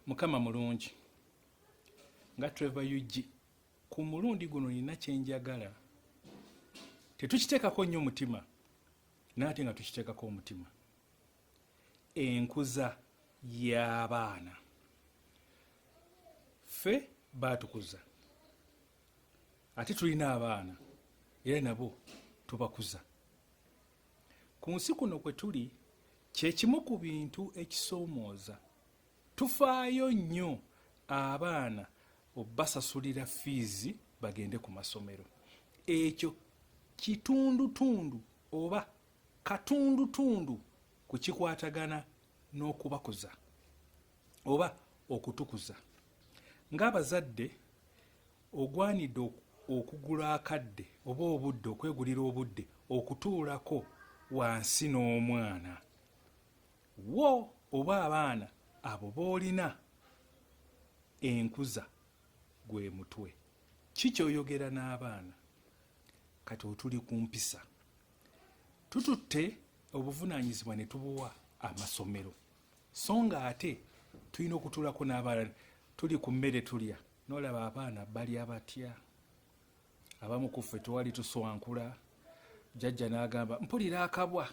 mukama mulungi nga trevor ug ku mulundi guno nina kyenjagala tetukiteekako nnyo omutima naate nga tukiteekako omutima enkuza y'abaana ffe baatukuza ate tulina abaana era nabo tubakuza Ku nsi kuno kwe tuli kye kimu ku bintu ekisoomooza. Tufaayo nnyo abaana obasasulira fiizi bagende ku masomero. Ekyo kitundutundu oba katundutundu ku kikwatagana n'okubakuza oba okutukuza ng'abazadde. Ogwanidde okugula akadde oba obudde okwegulira obudde okutuulako wansi n'omwana wo oba abaana abo b'olina enkuza gwe mutwe ki kyoyogera n'abaana kati otuli ku mpisa tututte obuvunaanyizibwa ne tubuwa amasomero so nga ate tulina okutuulako n'abaana tuli ku mmere tulya nolaba abaana balya batya abamu ku ffe tewali tuswankula jajja n'agamba mpulira akabwa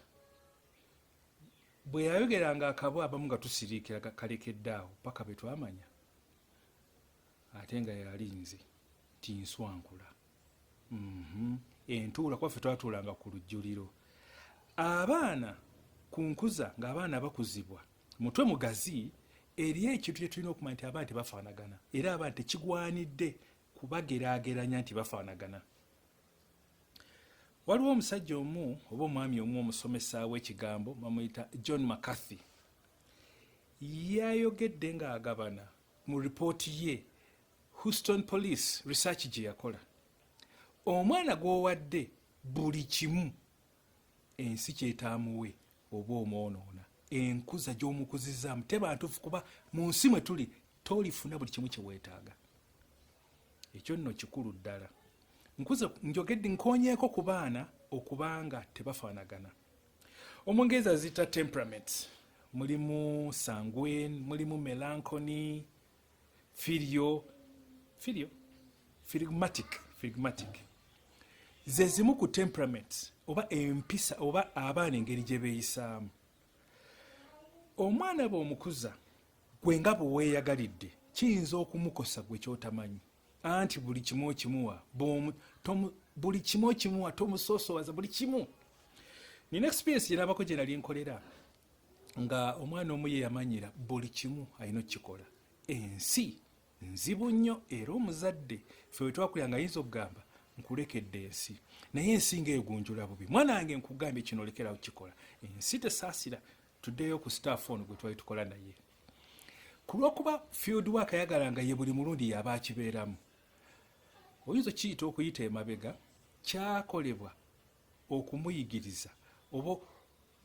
bwe yayogeranga akabwa abamu nga tusiriikira kalekedde awo paka be twamanya ate nga yali nze nti nswankula mhm. entuula kuba ffe twatuulanga ku lujjuliro abaana ku nkuza ng'abaana bakuzibwa mutwe mugazi eri ekintu kyetulina okumanya nti abaana tebafaanagana era abaana tekigwanidde kubagerageranya nti bafaanagana waliwo omusajja omu oba omwami omu omusomesa w'ekigambo bamuyita john mccarthy yayogedde ng'agabana mu ripooti ye houston police research gye yakola omwana gw'owadde buli kimu ensi kyetaamuwe oba omwonoona enkuza gy'omukuzizaamu teba ntuufu kuba mu nsi mwe tuli tolifuna buli kimu kye weetaaga ekyo nno kikulu ddala nkuze njogedde nkonyeeko ku baana okubanga tebafaanagana omungereza aziyita temperament mulimu sanguen mulimu melancony filio filio phlegmatic phlegmatic ze zimu ku temperament oba empisa oba abaana engeri gye beeyisaamu omwana bw'omukuza gwe nga bwe weeyagalidde kiyinza okumukosa gwe kyotamanyi anti buli kimu okimuwa buli kimu okimuwa tomusoosowaza buli kimu nina experience gye nabako gye nali nkolera nga omwana omu ye yamanyira buli kimu alina okukikola ensi nzibu nnyo era omuzadde fe wetwakulira nga yinza okugamba nkulekedde ensi naye ensi nga egunjula bubi mwana wange nkugambye kino olekera okukikola ensi tesaasira tuddeyo ku staff ono gwe twali tukola naye ku lwokuba field work ayagala nga ye buli mulundi yaba akibeeramu oyinza okiyita okuyita emabega kyakolebwa okumuyigiriza oba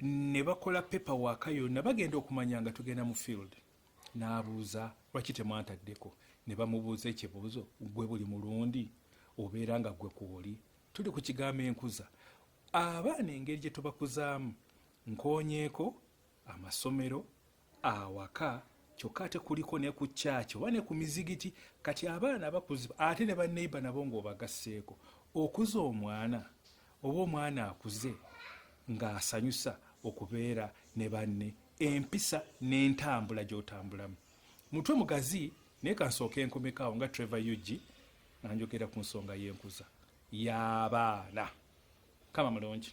ne bakola pepa waaka yonna bagenda okumanya nga tugenda mu field n'abuuza lwaki temwantaddeko ne bamubuuza ekibuuzo gwe buli mulundi obeera nga gwe kwoli tuli ku kigambo enkuza abaana engeri gye tubakuzaamu nkonyeeko amasomero awaka kyokka ate kuliko ne ku kyaki oba ne ku mizigiti kati abaana bakuzibwa ate ne baneiba nabo ng'obagasseeko okuza omwana oba omwana akuze ng'asanyusa okubeera ne banne empisa n'entambula gy'otambulamu mutwe mugazi naye kansooka enkomekaawo nga trevor ug anjogera ku nsonga y'enkuza y'abaana kama mulungi